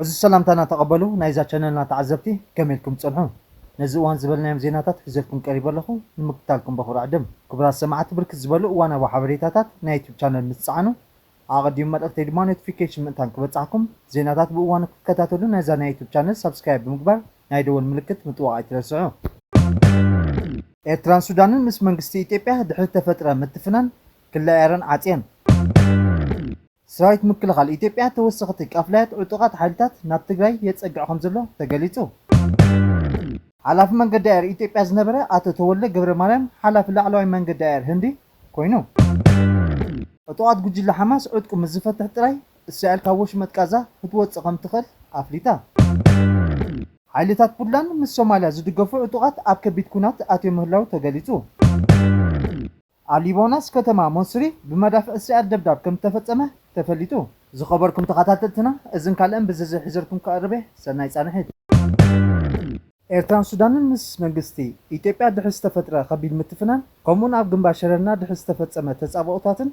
ዕዙዝ ሰላምታና ተቐበሉ ናይዛ ቻነልና ተዓዘብቲ ከመይ ኢልኩም ትጸንሑ ነዚ እዋን ዝበልናዮም ዜናታት ሒዘልኩም ቀሪበ ኣለኹ ንምክታልኩም በኹሪ ዕድም ክቡራት ሰማዕቲ ብርክት ዝበሉ እዋናዊ ሓበሬታታት ናይ ዩቱብ ቻነል ምስ ትጸዓኑ ኣቐዲሙ መልእኽተይ ድማ ኖቲፊኬሽን ምእንታን ክበጽሓኩም ዜናታት ብእዋኑ ክትከታተሉ ነዛ ናይ ዩቱብ ቻነል ሳብስክራይብ ብምግባር ናይ ደወል ምልክት ምጥዋቕ ኣይትረስዑ። ኤርትራን ሱዳንን ምስ መንግስቲ ኢትዮጵያ ድሕሪ እተፈጥረ ምትፍናን ክሊ ኣየረን ዓጽየን። ሰራዊት ምክልኻል ኢትዮጵያ ተወሰኽቲ ቃፍላያት ዕጡቓት ሓይልታት ናብ ትግራይ የጸግዕ ከምዘሎ ተገሊጹ። ሓላፊ መንገዲ ኣየር ኢትዮጵያ ዝነበረ ኣቶ ተወልደ ገብረማርያም ሓላፊ ላዕለዋይ መንገዲ ኣየር ህንዲ ኮይኑ። ዕጡቓት ጉጅለ ሓማስ ዕጥቁ ምስ ዝፈትሕ ጥራይ እስራኤል ካብ ወሽመጥ ቃዛ ክትወጽእ ከም እትኽእል ኣፍሊጣ። ሓይልታት ፑንትላንድ ምስ ሶማልያ ዝድገፉ ዕጡቓት ኣብ ከቢድ ኲናት ኣትዮም ምህላው ተገሊጹ። ኣብ ሊባኖስ ከተማ ሞሱሪ ብመዳፍዕ እስራኤል ደብዳብ ከም እተፈጸመ ተፈሊጡ። ዝኸበርኩም ተኻታተልትና እዝን ካልእን ብዝርዝር ሒዘልኩም ክቐርብ'የ ሰናይ ጻንሒት። ኤርትራን ሱዳንን ምስ መንግስቲ ኢትዮጵያ ድሕሪ ዝተፈጥረ ከቢድ ምትፍናን ከምኡውን ኣብ ግንባር ሸረና ድሕሪ ዝተፈጸመ ተጻብኦታትን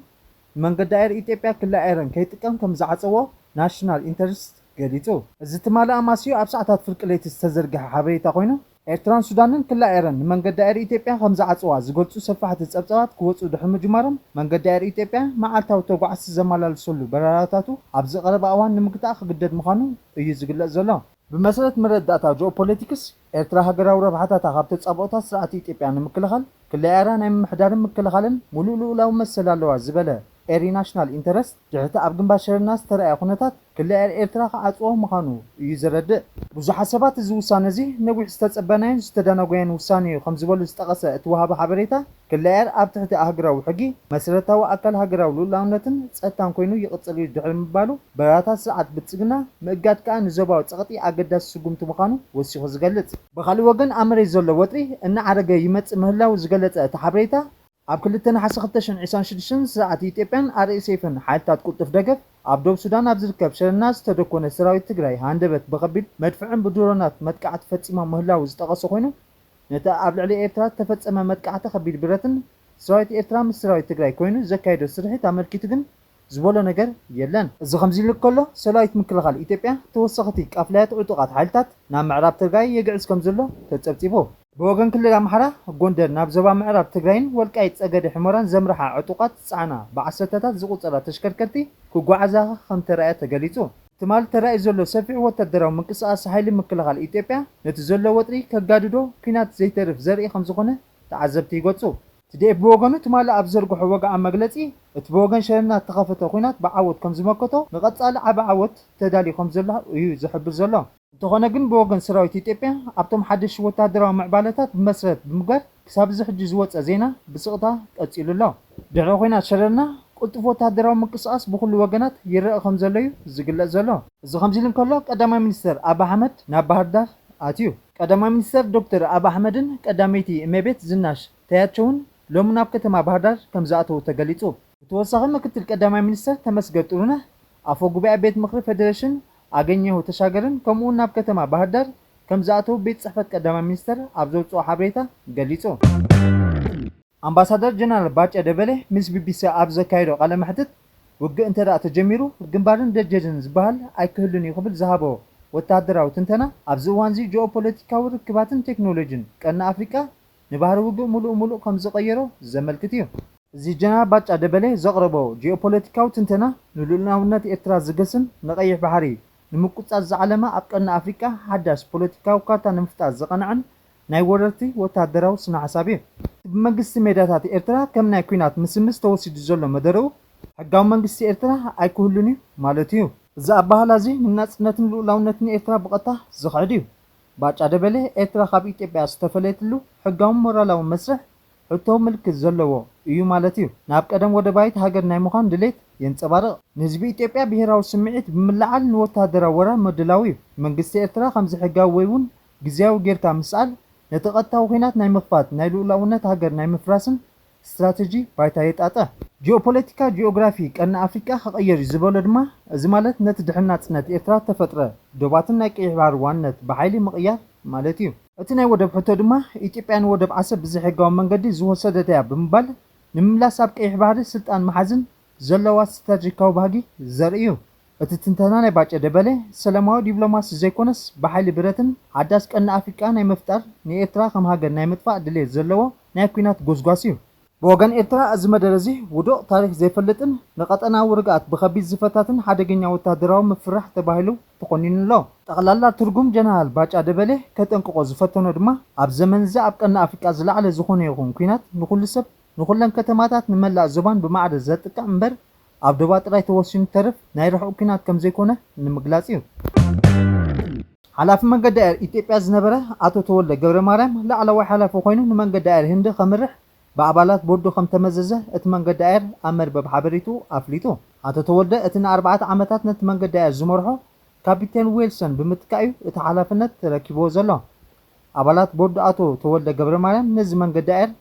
ንመንገዲ ኣየር ኢትዮጵያ ክሊ ኣየረን ከይጥቀም ከም ዝዓጸዎ ናሽናል ኢንተርስት ገሊጹ። እዚ ትማሊ ኣማስዩ ኣብ ሰዓታት ፍርቂ ለይቲ ዝተዘርግሐ ሓበሬታ ኮይኑ፣ ኤርትራን ሱዳንን ክሊ ኣየረን ንመንገዲ ኣየር ኢትዮጵያ ከም ዝዓጽዋ ዝገልጹ ሰፋሕቲ ጸብጻባት ክወጹ ድሕሪ ምጅማሮም መንገዲ ኣየር ኢትዮጵያ መዓልታዊ ተጓዓዝቲ ዘመላልሰሉ በረራታቱ ኣብዚ ቀረባ እዋን ንምግታእ ክግደድ ምዃኑ እዩ ዝግለጽ ዘሎ። ብመሰረት መረዳእታ ጂኦፖለቲክስ ኤርትራ ሃገራዊ ረብሓታታ ካብ ተጻብኦታት ስርዓት ኢትዮጵያ ንምክልኻል ክለኣ'ራ ናይ ምምሕዳርን ምክልኻልን ሙሉእ ልኡላዊ መሰል ኣለዋ ዝበለ ኤሪ ናሽናል ኢንተረስት ድሕሪ'ቲ ኣብ ግንባር ሸረና ዝተራእየ ኩነታት ክለኣ'ር ኤርትራ ክዓጽዎ ምዃኑ እዩ ዘረድእ። ብዙሓት ሰባት እዚ ውሳነ'ዚ ነዊሕ ዝተጸበናዮን ዝተዳናጎየን ውሳነ'ዩ ከምዝበሉ ዝጠቐሰ እቲ ወሃቢ ሓበሬታ፣ ክለያየር ኣብ ትሕቲ ኣህግራዊ ሕጊ መስረታዊ ኣካል ሃገራዊ ልኡላውነትን ጸጥታን ኮይኑ ይቕጽል እዩ ድሕሪ ምባሉ፣ በረራታት ስርዓት ብልጽግና ምእጋድ ከኣ ንዞባዊ ጸቕጢ ኣገዳሲ ስጉምቲ ምዃኑ ወሲኹ ዝገልጽ። ብኻልእ ወገን ኣብ መሬት ዘሎ ወጥሪ እናዓረገ ይመጽእ ምህላዉ ዝገለጸ እቲ ሓበሬታ፣ ኣብ ክልተ ነሓሰ ክልተ ሽሕን ዒስራን ሽዱሽተን ስርዓት ኢትዮጵያን RSFን ሓይልታት ቅልጡፍ ደገፍ ኣብ ዶብ ሱዳን ኣብ ዝርከብ ሸረና ዝተደኮነ ሰራዊት ትግራይ ሃንደበት ብኸቢድ መድፍዕን ብድሮናት መጥቃዕቲ ፈጺሞም ምህላዉ ዝጠቐሰ ኮይኑ ነቲ ኣብ ልዕሊ ኤርትራ እተፈጸመ መጥቃዕቲ ከቢድ ብረትን ሰራዊት ኤርትራ ምስ ሰራዊት ትግራይ ኮይኑ ዘካየዶ ስርሒት ኣመልኪቱ ግን ዝበሎ ነገር የለን። እዚ ከምዚ'ሉ ከሎ ሰራዊት ምክልኻል ኢትዮጵያ ተወሰኸቲ ቃፍላያት ዕጡቓት ሓይልታት ናብ ምዕራብ ትርጋይ የግዕዝ ከምዘሎ ተጸብጺቡ። ብወገን ክልል ኣምሓራ፣ ጎንደር ናብ ዞባ ምዕራብ ትግራይን ወልቃይት ጸገዴ ሕሞራን ዘምርሓ ዕጡቓት ዝጸዓና ብዓሰርተታት ዝቑጸራ ተሽከርከርቲ ክጓዓዛ ከምተራእያ ተገሊጹ። ትማል ተራእዩ ዘሎ ሰፊሕ ወታደራዊ ምንቅስቓስ ሓይሊ ምክልኻል ኢትዮጵያ ነቲ ዘሎ ወጥሪ ከጋድዶ ኲናት ዘይተርፍ ዘርኢ ከምዝኾነ ተዓዘብቲ ይገልጹ። ትዲኤፍ ብወገኑ ትማሊ ኣብ ዝዘርግሖ ወግዓዊ መግለጺ፣ እቲ ብወገን ሸነና እተኸፈተ ኲናት ብዓወት ከምዝመከቶ ንቐጻሊ ዓቢ ዓወት ተዳልዩ ከምዘሎ እዩ ዝሕብር ዘሎ። እንተኾነ ግን ብወገን ሰራዊት ኢትዮጵያ ኣብቶም ሓደሽቲ ወተሃደራዊ ምዕባለታት ብመሰረት ብምግባር ክሳብ እዚ ሕጂ ዝወጸ ዜና ብስቕታ ቀጺሉ ኣሎ። ድሕሪ ኹናት ሸረና ቅልጡፍ ወተሃደራዊ ምንቅስቓስ ብኹሉ ወገናት ይረኣ ከምዘሎ'ዩ ዝግለጽ ዘሎ። እዚ ከምዚ'ሉ እንከሎ ቀዳማይ ሚኒስተር ኣቢ ኣሕመድ ናብ ባህርዳር ኣትዩ። ቀዳማይ ሚኒስተር ዶክተር ኣቢ ኣሕመድን ቀዳመይቲ እሜቤት ዝናሽ ታያቸውን ሎሚ ናብ ከተማ ባህርዳር ከምዝኣተዉ ተገሊጹ። ብተወሳኺ ምክትል ቀዳማይ ሚኒስተር ተመስገን ጥሩነህ፣ ኣፈ ጉባኤ ቤት ምኽሪ ፌዴሬሽን ኣገኘሁ ተሻገርን ከምኡውን ናብ ከተማ ባህርዳር ከምዝኣተዉ ቤት ፅሕፈት ቀዳማይ ሚኒስትር ኣብ ዘውፅኦ ሓበሬታ ገሊፁ። ኣምባሳደር ጀነራል ባጫ ደበሌ ምስ ቢቢሲ ኣብ ዘካየዶ ቃለ መሕትት ውግእ እንተድኣ ተጀሚሩ ግንባርን ደጀንን ዝበሃል ኣይክህሉን እዩ ክብል ዝሃቦ ወተሃደራዊ ትንተና ኣብዚ እዋንዚ ጂኦ ፖለቲካዊ ርክባትን ቴክኖሎጂን ቀርኒ ኣፍሪቃ ንባህሪ ውግእ ምሉእ ምሉእ ከም ዝቐየሮ ዘመልክት እዩ። እዚ ጀነራል ባጫ ደበሌ ዘቕረቦ ጂኦፖለቲካዊ ትንተና ንልኡላውነት ኤርትራ ዝገስን ንቀይሕ ባሕሪ ንምቁጽጻር ዝዓለመ ኣብ ቀርኒ ኣፍሪቃ ሓዳሽ ፖለቲካዊ ካርታ ንምፍጣር ዝቐንዐን ናይ ወረርቲ ወተሃደራዊ ስነሓሳብ እዩ። እቲ ብመንግስቲ ሜዳታት ኤርትራ ከም ናይ ኲናት ምስምስ ተወሲዱ ዘሎ መደረኡ ሕጋዊ መንግስቲ ኤርትራ ኣይክህሉን እዩ ማለት እዩ። እዚ ኣበሃህላ እዚ ንናጽነትን ልኡላውነትን ኤርትራ ብቐጥታ ዝኽሕድ እዩ። ባጫ ደበሌ ኤርትራ ካብ ኢትዮጵያ ዝተፈለየትሉ ሕጋውን ሞራላውን መስርሕ ሕቶ ምልክት ዘለዎ እዩ ማለት እዩ። ናብ ቀደም ወደባይት ሃገር ናይ ምዃን ድሌት የንጸባርቕ። ንህዝቢ ኢትዮጵያ ብሄራዊ ስምዒት ብምልዓል ንወተሃደራዊ ወራር ምድላው እዩ። መንግስቲ ኤርትራ ከምዚ ሕጋዊ ወይ'ውን ግዝያዊ ጌርካ ምስኣል ነቲ ቀጥታዊ ኲናት ናይ ምኽፋት፣ ናይ ልኡላውነት ሃገር ናይ ምፍራስን ስትራተጂ ባይታ የጣጥሕ። ጂኦፖለቲካ ጂኦግራፊ ቀርኒ ኣፍሪቃ ክቐየር'ዩ ዝበሎ ድማ፣ እዚ ማለት ነቲ ድሕሪ ናጽነት ኤርትራ እተፈጥረ ዶባትን ናይ ቀይሕ ባሕሪ ዋንነት ብሓይሊ ምቕያር ማለት'ዩ። እቲ ናይ ወደብ ሕቶ ድማ፣ ኢትዮጵያ ንወደብ ዓሰብ ብዘይሕጋዊ መንገዲ ዝወሰደት'ያ ብምባል፣ ንምምላስ ኣብ ቀይሕ ባሕሪ ስልጣን ምሓዝን ዘለዋ ስትራቴጂካዊ ባህጊ ዘርኢ እዩ። እቲ ትንተና ናይ ባጨ ደበሌ፣ ሰላማዊ ዲብሎማሲ ዘይኮነስ ብሓይሊ ብረትን ሓዳስ ቀርኒ ኣፍሪቃ ናይ ምፍጣር ንኤርትራ ከም ሃገር ናይ ምጥፋእ ድሌት ዘለዎ ናይ ኩናት ጎስጓስ እዩ። ብወገን ኤርትራ እዚ መደረ እዚ ውዱቕ፣ ታሪኽ ዘይፈልጥን ንቀጠናዊ ርግኣት ብኸቢድ ዝፈታትን ሓደገኛ ወተሃደራዊ ምፍርራሕ ተባሂሉ ተኾኒኑ ኣሎ። ጠቕላላ ትርጉም ጀነራል ባጫ ደበሌ ከጠንቅቖ ዝፈተኖ ድማ ኣብ ዘመን እዚ ኣብ ቀርኒ ኣፍሪቃ ዝለዓለ ዝኾነ ይኹን ኩናት ንኹሉ ሰብ ንኹለን ከተማታት ንመላእ ዞባን ብማዕረ ዘጥቅዕ እምበር ኣብ ዶባ ጥራይ ተወሲኑ ዝተርፍ ናይ ርሑቕ ኲናት ከምዘይኮነ ንምግላጽ እዩ። ሓላፊ መንገዲ ኣየር ኢትዮጵያ ዝነበረ ኣቶ ተወልደ ገብረማርያም ላዕለዋይ ሓላፊ ኮይኑ ንመንገዲ ኣየር ህንዲ ከምርሕ ብኣባላት ቦርዱ ከምተመዘዘ እቲ መንገዲ ኣየር ኣብ መርበብ ሓበሬትኡ ኣፍሊጡ። ኣቶ ተወልደ እቲ ንኣርባዕተ ዓመታት ነቲ መንገዲ ኣየር ዝመርሖ ካፒቴን ዌልሰን ብምትካእ እዩ እቲ ሓላፍነት ተረኪብዎ ዘሎ። ኣባላት ቦርድ ኣቶ ተወልደ ገብረማርያም ነዚ መንገዲ ኣየር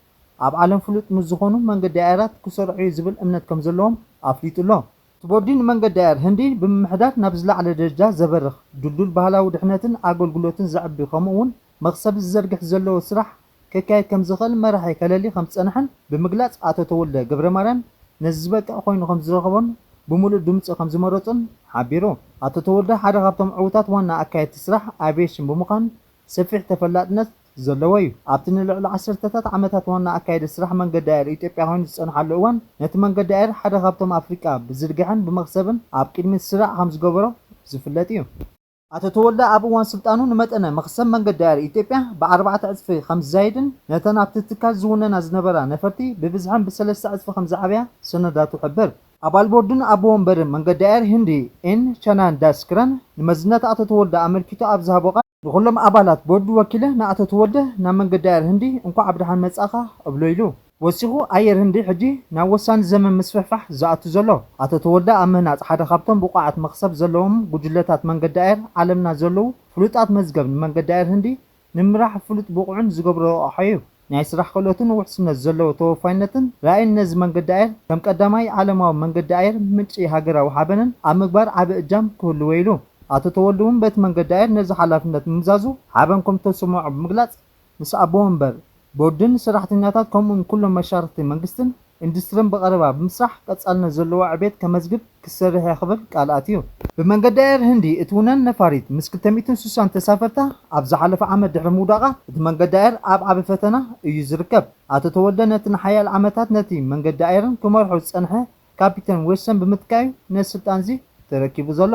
ኣብ ዓለም ፍሉጥ ምስ ዝኾኑ መንገዲ ኣየራት ክሰርሕ'ዩ ዝብል እምነት ከምዘለዎም ኣፍሊጡ'ሎ። እቲ ቦርዲ ንመንገዲ ኣየር ህንዲ ብምምሕዳር ናብ ዝለዓለ ደረጃ ዘበርኽ፣ ድልዱል ባህላዊ ድሕነትን ኣገልግሎትን ዘዕቢ ከምኡ'ውን መኽሰብ ዝዘርግሕ ዘለዎ ስራሕ ከካይድ ከምዝኽእል መራሒ ከለሊ ከምዝጸንሐን ብምግላጽ ኣቶ ተወልደ ገብረማርያም ነዚ ዝበቅዕ ኮይኑ ከምዝረኸቦን ብምሉእ ድምጹ ከምዝመረጾን ሓቢሩ። ኣቶ ተወልደ ሓደ ካብቶም ዕውታት ዋና ኣካየድቲ ስራሕ ኣቪየሽን ብምዃን ሰፊሕ ተፈላጥነት ዘለዎ እዩ። ኣብቲ ንልዕሊ ዓሰርተታት ዓመታት ዋና ኣካያዲ ስራሕ መንገዲ ኣየር ኢትዮጵያ ኮይኑ ዝጸንሓሉ እዋን፣ ነቲ መንገዲ ኣየር ሓደ ካብቶም ኣፍሪቃ ብዝርግሐን ብመኽሰብን ኣብ ቅድሚት ስራዕ ከም ዝገበሮ ዝፍለጥ እዩ። ኣቶ ተወልደ ኣብ እዋን ስልጣኑ ንመጠነ መኽሰብ መንገዲ ኣየር ኢትዮጵያ ብኣርባዕተ ዕጽፊ ከም ዝዛይድን ነተን ኣብቲ ትካል ዝውነና ዝነበራ ነፈርቲ ብብዝሐን ብሰለስተ ዕጽፊ ከም ዝዓብያ ሰነዳቱ ይሕብር። ኣባል ቦርድን ኣቦ ወንበርን መንገዲ ኣየር ህንዲ ኤን ቻናን ዳስ ክረን ንመዝነት ኣቶ ተወልደ ኣመልኪቱ ኣብ ዝሃቦ ቃል፣ ንኹሎም ኣባላት ቦርድ ወኪለ ንኣቶ ተወልደ ናብ መንገዲ ኣየር ህንዲ እንኳዕ ብደሓን መጻእኻ እብሎ ኢሉ። ወሲኹ ኣየር ህንዲ ሕጂ ናብ ወሳኒ ዘመን ምስፍሕፋሕ ዝኣቱ ዘሎ። ኣቶ ተወልደ ኣብ ምህናጽ ሓደ ካብቶም ብቑዓት መኽሰብ ዘለዎም ጉጅለታት መንገዲ ኣየር ዓለምና ዘለዉ ፍሉጣት መዝገብ ንመንገዲ ኣየር ህንዲ ንምምራሕ ፍሉጥ ብቑዕን ዝገብሮ ረቛሒ'ዩ። ናይ ስራሕ ክእለቱን ውሕስነት ዘለዎ ተወፋይነትን ራእይን ነዚ መንገዲ ኣየር ከም ቀዳማይ ዓለማዊ መንገዲ ኣየር ምንጪ ሃገራዊ ሓበንን ኣብ ምግባር ዓቢ እጃም ክህልዎ ኢሉ። ኣቶ ተወልደ'ውን በቲ መንገዲ ኣየር ነዚ ሓላፍነት ምምዛዙ ሓበን ከምተሰመዖ ብምግላጽ፣ ምስ ኣቦ መንበር፣ ቦርድን ሰራሕተኛታት ከምኡ'ውን ኩሎም መሻርኽቲ መንግስትን፣ ኢንዱስትርን ብቐረባ ብምስራሕ ቀፃልነት ዘለዎ ዕቤት ከመዝግብ ክሰርሕ'የ ክብል ቃል ኣትዩ። ብመንገዲ ኣየር ህንዲ እትውነን ነፋሪት ምስ ክልተ ሚእትን ስሳን ተሳፈርታ ኣብ ዝሓለፈ ዓመት ድሕሪ ምውዳቓ እቲ መንገዲ ኣየር ኣብ ዓቢ ፈተና እዩ ዝርከብ። ኣቶ ተወልደ ነቲ ንሓያሎ ዓመታት ነቲ መንገዲ ኣየርን ክመርሖ ዝጸንሐ ካፒተን ዌድሰን ብምትካእ'ዩ ነዚ ስልጣን'ዚ ተረኪቡ ዘሎ።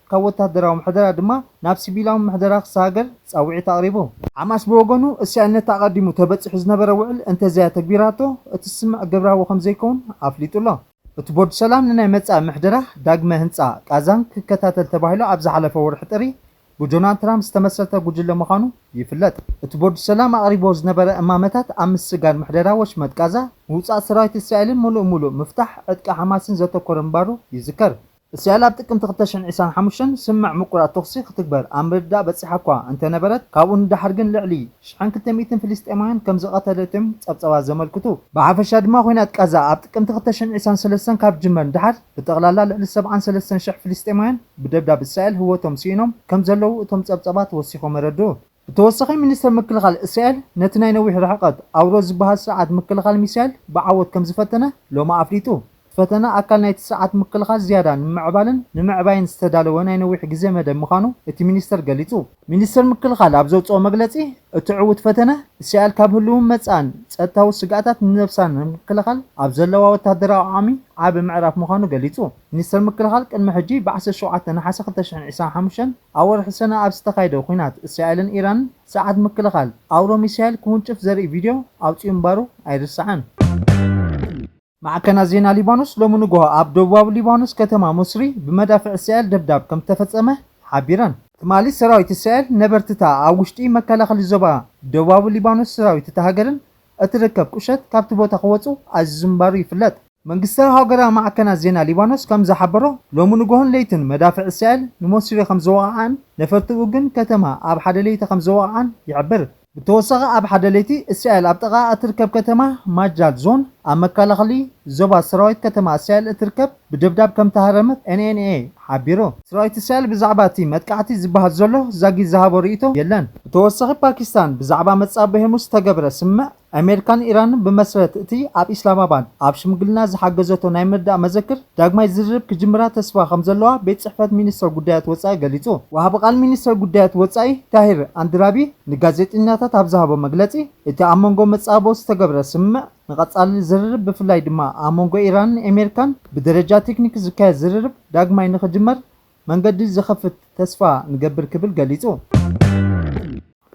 ካብ ወተሃደራዊ ምሕደራ ድማ ናብ ሲቪላዊ ምሕደራ ክሰጋገር ጻውዒት ኣቕሪቡ። ሓማስ ብወገኑ፣ እስራኤል ነቲ ኣቐዲሙ ተበጺሑ ዝነበረ ውዕል እንተዘይኣተግቢራቶ፣ እቲ ስምምዕ ግብራዊ ከምዘይከውን ኣፍሊጡ'ሎ። እቲ ቦርድ ሰላም ንናይ መጻኢ ምሕደራ ዳግመ ህንጻ ቃዛን ክከታተል ተባሂሉ ኣብ ዝሓለፈ ወርሒ ጥሪ ብጆናልድ ትራምፕ ዝተመስረተ ጉጅለ ምዃኑ ይፍለጥ። እቲ ቦርድ ሰላም ኣቕሪብዎ ዝነበረ እማመታት ኣብ ምስግጋር ምሕደራ ወሽመጥ ቃዛ፣ ምውጻእ ሰራዊት እስራኤልን ምሉእ ምሉእ ምፍታሕ ዕጥቂ ሓማስን ዘተኮረ ምንባሩ ይዝከር። እስራኤል ኣብ ጥቅምቲ ክልተ ሽሕን ዒስራን ሓሙሽተን ስምምዕ ምቁራጽ ተኹሲ ክትግበር ኣብ ምርድዳእ በጺሓ'ኳ እንተነበረት፣ ካብኡ ንደሓር ግን ልዕሊ ሽሕን ክልተ ሚእትን ፍልስጤማውያን ከምዝቐተለት'ዮም ጸብጸባት ዘመልክቱ። ብሓፈሻ ድማ ኹናት ቃዛ ኣብ ጥቅምቲ ክልተ ሽሕን ዒስራን ሰለስተን ካብ ዝጅመር ንደሓር ብጠቕላላ ልዕሊ ሰብዓን ሰለስተን ሽሕ ፍልስጤማውያን ብደብዳብ እስራኤል ህወቶም ስኢኖም ከምዘለዉ እቶም ጸብጸባት ወሲኾም የረድኡ። ብተወሳኺ ሚኒስተር ምክልኻል እስራኤል ነቲ ናይ ነዊሕ ርሕቐት ኣውሮስ ዝበሃል ስርዓት ምክልኻል ሚሳይል ብዓወት ከምዝፈተነ ሎሚ ኣፍሊጡ። እቲ ፈተነ ኣካል ናይቲ ስርዓት ምክልኻል ዝያዳ ንምምዕባልን ንምዕባይን ዝተዳለወ ናይ ነዊሕ ግዜ መደብ ምዃኑ እቲ ሚኒስተር ገሊጹ። ሚኒስተር ምክልኻል ኣብ ዘውጽኦ መግለጺ፣ እቲ ዕዉት ፈተነ፣ እስራኤል ካብ ህልውን መጻእን ጸጥታዊ ስግኣታት ንነብሳ ንምክልኻል ኣብ ዘለዋ ወተሃደራዊ ዓቕሚ ዓቢ ምዕራፍ ምዃኑ ገሊጹ። ሚኒስተር ምክልኻል ቅድሚ ሕጂ ብዓሰርተ ሸውዓተ ነሓሰ ክልተ ሽሕን ዒስራን ሓሙሽተን ኣብ ወርሒ ሰነ ኣብ ዝተኻየደ ኵናት እስራኤልን ኢራንን ስርዓት ምክልኻል ኣውሮ ሚሳይል ክውንጭፍ ዘርኢ ቪድዮ ኣውጺኡ ምንባሩ ኣይርሳዕን። ማዕከናት ዜና ሊባኖስ ሎሚ ንግሆ ኣብ ደቡባዊ ሊባኖስ ከተማ ሞስሪ ብመዳፍዕ እስራኤል ደብዳብ ከም ዝተፈጸመ ሓቢረን። ትማሊ ሰራዊት እስራኤል ነበርቲ'ታ ኣብ ውሽጢ መከላኸሊ ዞባ ደቡባዊ ሊባኖስ ሰራዊት እታ ሃገርን እትርከብ ቁሸት ካብቲ ቦታ ክወጹ ኣዚዙ ምንባሩ ይፍለጥ። መንግስታዊ ሃገራዊ ማዕከናት ዜና ሊባኖስ ከም ዝሓበሮ፣ ሎሚ ንጎሆን ለይትን መዳፍዕ እስራኤል ንሞሲሪ ከም ዝወቓዓን ነፈርቲኡ ግን ከተማ ኣብ ሓደ ለይቲ ከም ዝወቓዓን ይሕብር። ብተወሳኺ ኣብ ሓደ ለይቲ እስራኤል ኣብ ጥቓኣ እትርከብ ከተማ ማጃል ዞን ኣብ መከላኸሊ ዞባ ሰራዊት ከተማ እስራኤል እትርከብ ብደብዳብ ከም እተሃረመት ኤንኤንኤ ሓቢሩ። ሰራዊት እስራኤል ብዛዕባ እቲ መጥቃዕቲ ዝበሃል ዘሎ ዛጊት ዝሃቦ ርእይቶ የለን። ብተወሳኺ ፓኪስታን ብዛዕባ መጻብቦ ሄርሙዝ ዝተገብረ ስምምዕ ኣሜሪካ ንኢራን ብመስረት እቲ ኣብ ኢስላማባድ ኣብ ሽምግልና ዝሓገዘቶ ናይ ምርዳእ መዘክር ዳግማይ ዝርርብ ክጅምራ ተስፋ ከምዘለዋ ቤት ጽሕፈት ሚኒስተር ጉዳያት ወጻኢ ገሊጹ። ወሃቢ ቃል ሚኒስተር ጉዳያት ወጻኢ ታሂር ኣንድራቢ ንጋዜጠኛታት ኣብ ዝሃቦ መግለጺ፣ እቲ ኣብ መንጎ መጻብቦ ዝተገብረ ስምምዕ ንቐጻሊ ዝርርብ ብፍላይ ድማ ኣመንጎ ኢራንን ኤሜሪካን ብደረጃ ቴክኒክ ዝካየድ ዝርርብ ዳግማይ ንኽጅመር መንገዲ ዝኸፍት ተስፋ ንገብር ክብል ገሊጹ።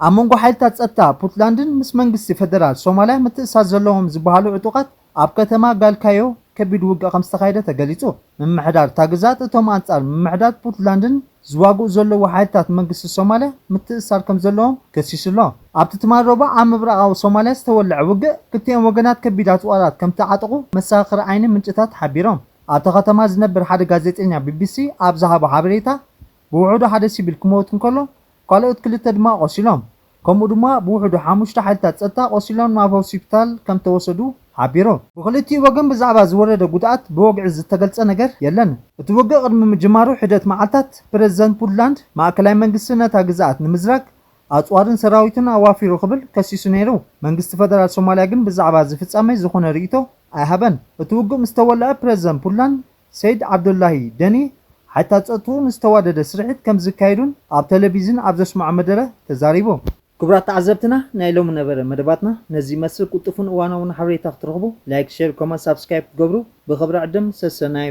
ኣብ መንጎ ሓይልታት ጸጥታ ፑትላንድን ምስ መንግስቲ ፈደራል ሶማልያ ምትእስሳር ዘለዎም ዝበሃሉ ዕጡቓት ኣብ ከተማ ጋልካዮ ከቢድ ውግእ ከምዝተኻየደ ተገሊጹ። ምምሕዳር እታ ግዝኣት እቶም ኣንጻር ምምሕዳር ፑትላንድን ዝዋግኡ ዘለዉ ሓይልታት መንግስቲ ሶማልያ ምትእስሳር ከምዘለዎም ከሲሱ'ሎ። ኣብቲ ትማል ረቡዕ ኣብ ምብራቓዊ ሶማልያ ዝተወልዐ ውግእ ክልቲኦም ወገናት ከቢድ ኣጽዋራት ከምተዓጠቑ መሰኻኽር ዓይኒ ምንጭታት ሓቢሮም። ኣብታ ከተማ ዝነብር ሓደ ጋዜጠኛ ቢቢሲ ኣብ ዝሃቦ ሓበሬታ፣ ብውሕዱ ሓደ ሲቪል ክመውት እንከሎ፣ ካልኦት ክልተ ድማ ቆሲሎም፣ ከምኡ ድማ ብውሕዱ ሓሙሽተ ሓይልታት ጸጥታ ቆሲሎም ናብ ሆሲፒታል ከምተወሰዱ ሓቢሩ። ብኽልቲኡ ወገን ብዛዕባ ዝወረደ ጉድኣት ብወግዒ ዝተገልጸ ነገር የለን። እቲ ውግእ ቅድሚ ምጅማሩ ሒደት መዓልታት፣ ፕረዚደንት ፑንትላንድ፣ ማእከላይ መንግስቲ ነታ ግዝኣት ንምዝራግ ኣጽዋርን ሰራዊትን ኣዋፊሩ ክብል ከሲሱ ነይሩ። መንግስቲ ፈደራል ሶማልያ ግን ብዛዕባ እዚ ፍጻሜ ዝኾነ ርእይቶ ኣይሃበን። እቲ ውግእ ምስ ተወልዐ ፕረዚደንት ፑንትላንድ ሰይድ ዓብዱላሂ ደኒ ሓይልታት ጸጥትኡ ንዝተዋደደ ስርሒት ከም ዝካየዱን ኣብ ተለቪዝን ኣብ ዘስመዖ መደረ ተዛሪቡ። ክቡራት ተዓዘብትና ናይ ሎሚ ነበረ መደባትና ነዚ ይመስል ቁልጡፍን እዋናውን ሓበሬታ ክትረኽቡ ላይክ ሸር ኮመንት ሳብስክራይብ ክትገብሩ ብኽብሪ ዕድም ሰሰናዩ።